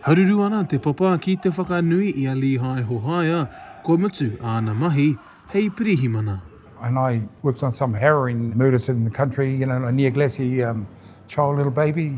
Haruru ana te papa ki te whakanui i a Lehi Hohaia kua mutu āna mahi hei pirihimana. And I worked on some harrowing murders in the country, you know, near Glassy, um, child little baby.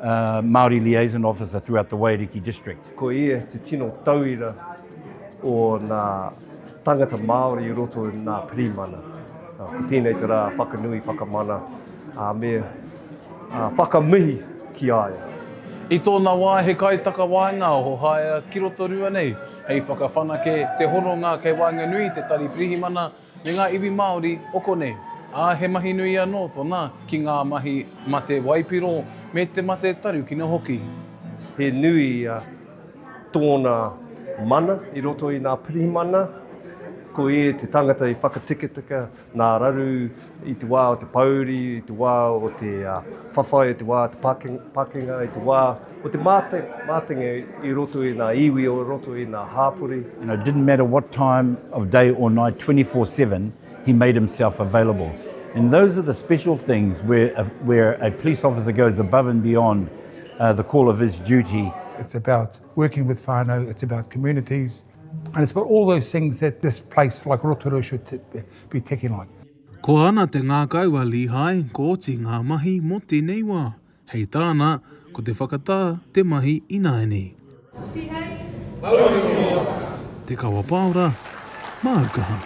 Māori Liaison Officer throughout the Waiariki District. Ko ia te tino tauira o ngā tangata Māori i roto i ngā pirimana. Ko tēnei te rā whakanui, whakamana, ā, me whakamihi ki a ia. I tōna wā he kaitakawaenga o Hohaea ki Rotorua nei hei whakawhanake te hononga kei waenganui i te Tari Pirihimana me ngā iwi Māori o konei, ā, he mahi nui anō tōna ki ngā mahi mate waipiro me te mate tarukino hoki. He nui ia tōna mana i roto i nā pirihimana, ko ia te tangata i whakatiketike nā raru i te wā o te pōuri, i te wā o te whawhai, i te wā o te pakenga, i te wā Ko te mātenga i roto i ngā iwi o roto i ngā hāpori. And it didn't matter what time of day or night, twenty four seven, he made himself available. And those are the special things where a police officer goes above and beyond the call of his duty. It's about working with whānau, it's about communities, and it's about all those things that this place like Rotorua should be ticking on. Ko ana te ngākau a Lihai, ko oti ngā mahi mō tēnei wā. Hei tāna, ko te whakatā te mahi ināianei. Hoki nei, Mauri o Mōana. Te Kawa Paora, māu kaha.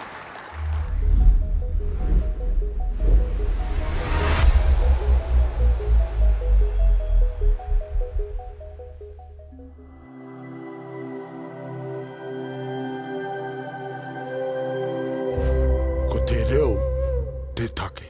Ko te reo te take.